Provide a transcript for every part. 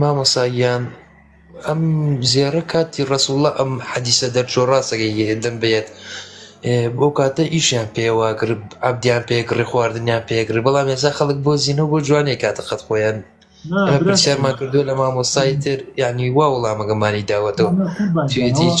مامۆسا گیان ئەم زێڕە کاتی ڕسوڵە ئەم حەدیسە دەرچۆ ڕاستەکەی هێدن بێت بۆ کاتە ئیشیان پێوە گرب عبدیان پێگڕی خواردنیان پێگری بەڵام ێزا خەڵک بۆ زیینە بۆ جوانێک کاتە قەت خۆیان پرسیارمان کردو لە مامۆستای تر ینی وا وڵامەکەمانی داوەتەوە هیچ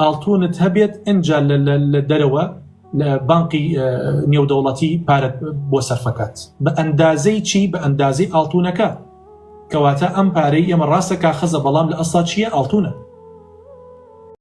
ئاڵتونت هەبێت ئەجا لە دەرەوە لە بانقی نێودەوڵەتی پارەت بۆ سەرفەکات بە ئەندازەی چی بە ئەندازەی ئاڵتونەکە کەواتە ئەم پارەی ئێمە ڕاستە کا خەزە بەڵام لە ئەسا چییە ئاڵتونە